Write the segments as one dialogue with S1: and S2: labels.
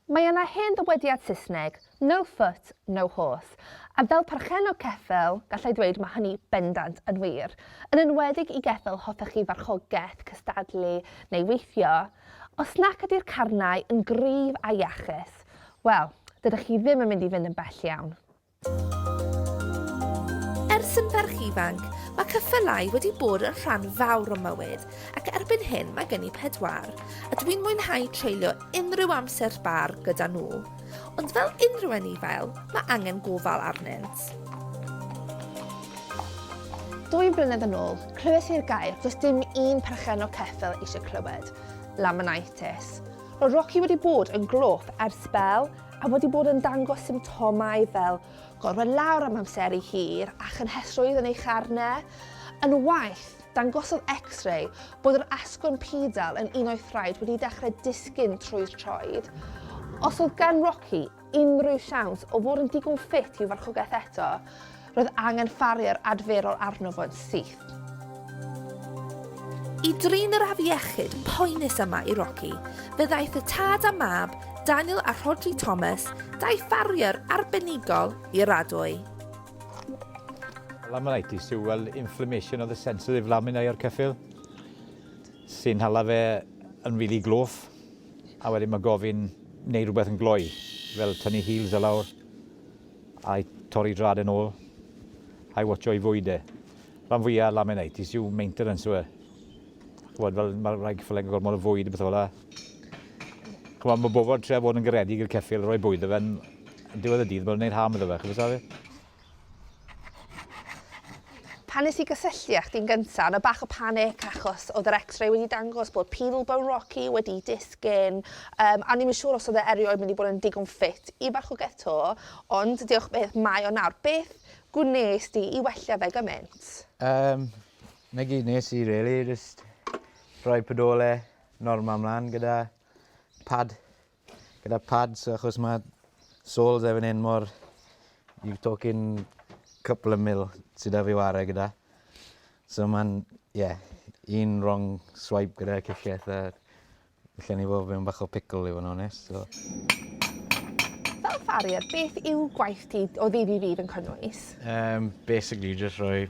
S1: Mae yna hen ddywediad Saesneg, no foot, no horse, a fel perchennog ceffyl, gallai ddweud mae hynny bendant yn wir, yn enwedig i geffyl hoffech chi farchogaeth, cystadlu neu weithio. Os nac ydy'r carnau yn gryf a iachus, wel, dydych chi ddim yn mynd i fynd yn bell iawn.
S2: Ers yn ferch ifanc, mae ceffylau wedi bod yn rhan fawr o mywyd, ac erbyn hyn mae gen i pedwar, a dwi'n mwynhau treulio unrhyw amser sbâr gyda nhw. Ond fel unrhyw anifail, mae angen gofal arnynt.
S1: Dwy flynedd yn ôl, clywes i'r gair does dim un perchen o ceffyl eisiau clywed, laminitis. Roedd Rocky wedi bod yn glôp ers sbel, a wedi bod yn dangos symptomau fel gorwedd lawr am amseru hir a chynhesrwydd yn ei charne. Yn waeth, dangosodd X-ray bod yr asgwrn pidal yn un o'i thraed wedi dechrau disgyn trwy'r troed. Os oedd gan Rocky unrhyw siawns o fod yn digon ffit i'w farchogaeth eto, Roedd angen ffarier adferol arno fo yn syth.
S2: I drin yr afiechyd poenus yma i Rocky, fe ddaeth y tad a mab, Daniel a Rhodri Thomas, dau ffarier arbenigol i'r adwy.
S3: Laminitis yw fel inflammation of the sensitive laminae o'r ceffyl sy'n hala fe yn rili gloff a wedyn mae gofyn neu rhywbeth yn gloi fel tynnu heels a lawr. I torri drad yn ôl. I watcho i fwyd e. Rhan fwya laminitis yw maintenance yw e. Ch'mod fel ma' rhai cyffyle yn gormod o fwyd a pethe fel 'a. Ch'mod ma' bobol trio bod yn garedig i'r ceffyl roi bwyd 'da fe yn yn diwedd y dydd ma'n neud harm iddo fe chi'n gwbo' safel?
S1: Pan nes i gysylltu â chdi'n gynta, o' 'na bach o panic achos o'dd yr X-ray wedi dangos bod pedal bone Rocky wedi disgyn, yym a o'n i'm yn siŵr os o'dd e erioed mynd i bod yn digon ffit i farchnogaeth 'to, ond diolch byth, mae o nawr. Beth gwnes di i wella fe gymaint? Yym,
S4: 'na gyd nes i rili, jyst rhoi pedole normal mlan gyda pad gyda pads achos mae soles efo'n hyn mor... You're talking couple of mil sydd da fi ware gyda. So mae'n, ie, yeah, un wrong swipe gyda'r ciciaeth a lle ni fod fe'n bach o pickle i fod yn onest. So.
S1: Fel farrier, beth yw gwaith ti o ddydd i ddydd yn cynnwys? Um, basically,
S4: just rhoi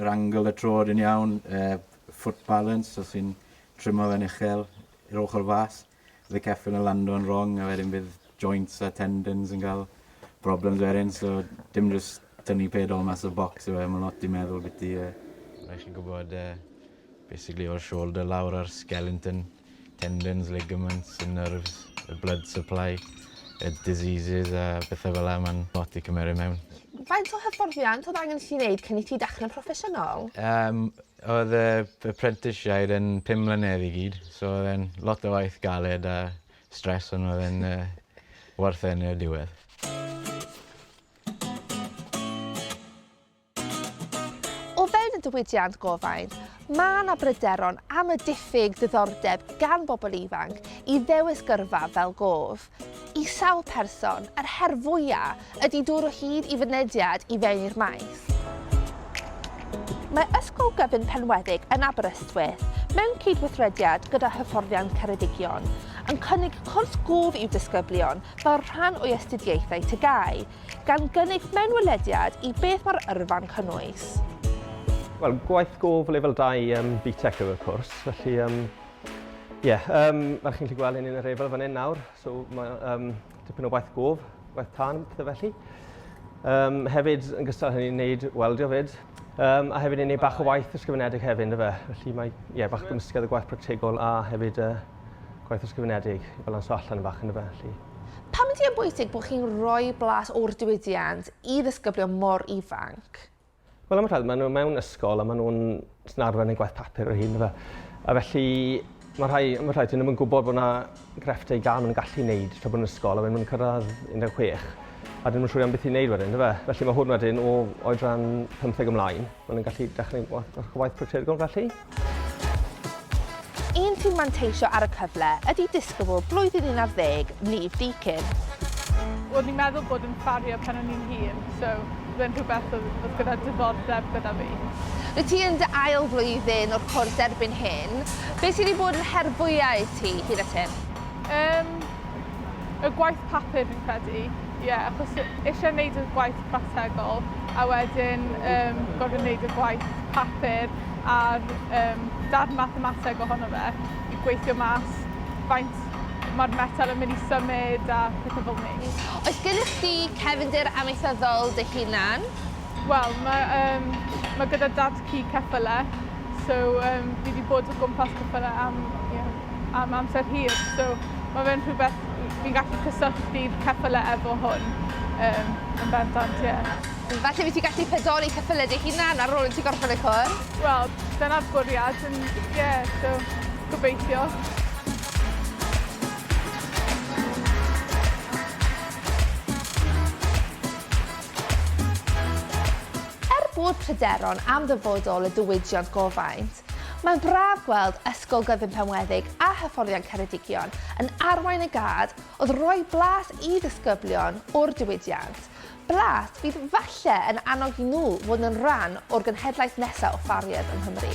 S4: Yr angle y trod yn iawn, y foot balance os ti'n trimo fe'n uchel i'r ochr fas, bydd y ceffyl yn lando'n wrong a wedyn bydd joints a tendons yn cael problems wedyn, so dim jyst tynnu pedol mas o box yw e, mae'n lot i meddwl beth i... Rhaid chi gwybod uh, Basically o'r shoulder lawr a'r skeleton, tendons, ligaments, y nerves, y blood supply, y diseases a pethau fel 'na, mae'n lot i cymeru mewn. Faint o hyfforddiant
S1: oedd angen i ti wneud cyn i ti dechre'n proffesiynol? Yym oedd
S4: y prentishiaid yn pum mlynedd i gyd so oedd e'n lot o waith galed a stress ond oedd e'n werth e yn y diwedd.
S1: O fewn y diwydiant gofain, mae yna bryderon am y diffyg diddordeb gan bobl ifanc i ddewis gyrfa fel gof. I sawl person, yr her fwyaf ydy dod o hyd i fynediad i fewn i'r maes. Mae Ysgol Gyfun Penweddig yn Aberystwyth, mewn cydweithrediad gyda Hyfforddiant Ceredigion, yn cynnig cwrs gof i'w disgyblion fel rhan o'i astudiaethau TGAU. gan gynnig mewnwelediad i beth mae'r yrfa'n cynnwys. Wel,
S5: gwaith gof lefel 2 um, BTEC yw'r cwrs, felly um, Ie, yeah, um, fel chi'n gallu gweld hyn yn yr efel fan hyn nawr, so mae um, tipyn o waith gof, waith tân, pethau felly. Um, hefyd, yn gystal hynny'n wneud weldio fyd, um, a hefyd yn gwneud bach o waith ysgrifenedig hefyd, ynddo fe. Felly mae, ie, yeah, bach gymysgedd o gwaith practegol a hefyd uh, gwaith ysgrifenedig i balansio allan yn bach, ynddo fe. Felly. Pam ydy e'n
S1: bwysig bod chi'n rhoi blas o'r diwydiant i ddisgyblion mor ifanc? Wel am y rhai,
S5: maen nhw mewn ysgol a maen nhw'n sy'n arfer yn eu gwaith papur o hyn fe. A felly mae rhai, am y rhai, dyn nhw'n gwybod bod yna grefftau gan maen nhw'n gallu wneud tra bod nhw'n ysgol a wedyn maen nhw'n cyrraedd 16 a dyn nhw'n siŵr iawn beth i wneud wedyn, fe. Felly mae hwn wedyn o oedran 15 ymlaen. Maen nhw'n gallu dechrau eich gwaith practegol felly.
S1: Un sy'n manteisio ar y cyfle ydy disgybl blwyddyn 11, Niamh Deakin. O'n
S6: i'n meddwl bod yn ffarrier pan o'n i'n hŷn, so fe'n rhywbeth oedd gyda diddordeb gyda fi. Wyt ti yn dy
S1: ail flwyddyn o'r cwrs erbyn hyn. Beth sydd wedi bod yn her fwyaf i ti hyd at hyn? Yym. y
S6: gwaith papur fi'n credu, ie, yeah, achos eisiau gwneud y gwaith practegol a wedyn um, gorfod gwneud y gwaith papur a'r um, darn mathemateg ohono fe i gweithio mas faint mae'r metal yn mynd i symud a pethau fel ni. Oes gennych chi
S1: cefndir amaethyddol dy hunan? Wel, mae,
S6: um, mae gyda dad ci ceffylau, so um, fi wedi bod o gwmpas ceffylau am yeah, am amser hir, so ma' fe'n rhywbeth fi'n gallu cysylltu ceffyle efo hwn, yym, yn bendant, ie. Falle fi ti
S1: gallu pedoli ceffyle dy hunan ar ôl i ti gorffen y cwrs? Wel, dyna'r
S6: bwriad, yn, ie, so, gobeithio.
S1: Er bod pryderon am ddyfodol y diwydiant gofaint, Mae'n braf gweld Ysgol Gyfun Penweddig a Hyfforddiant Ceredigion yn arwain y gad oedd roi blas i ddisgyblion o'r diwydiant, blas fydd falle yn annog i nhw fod yn rhan o'r genhedlaeth nesaf o ffarriers yng Nghymru.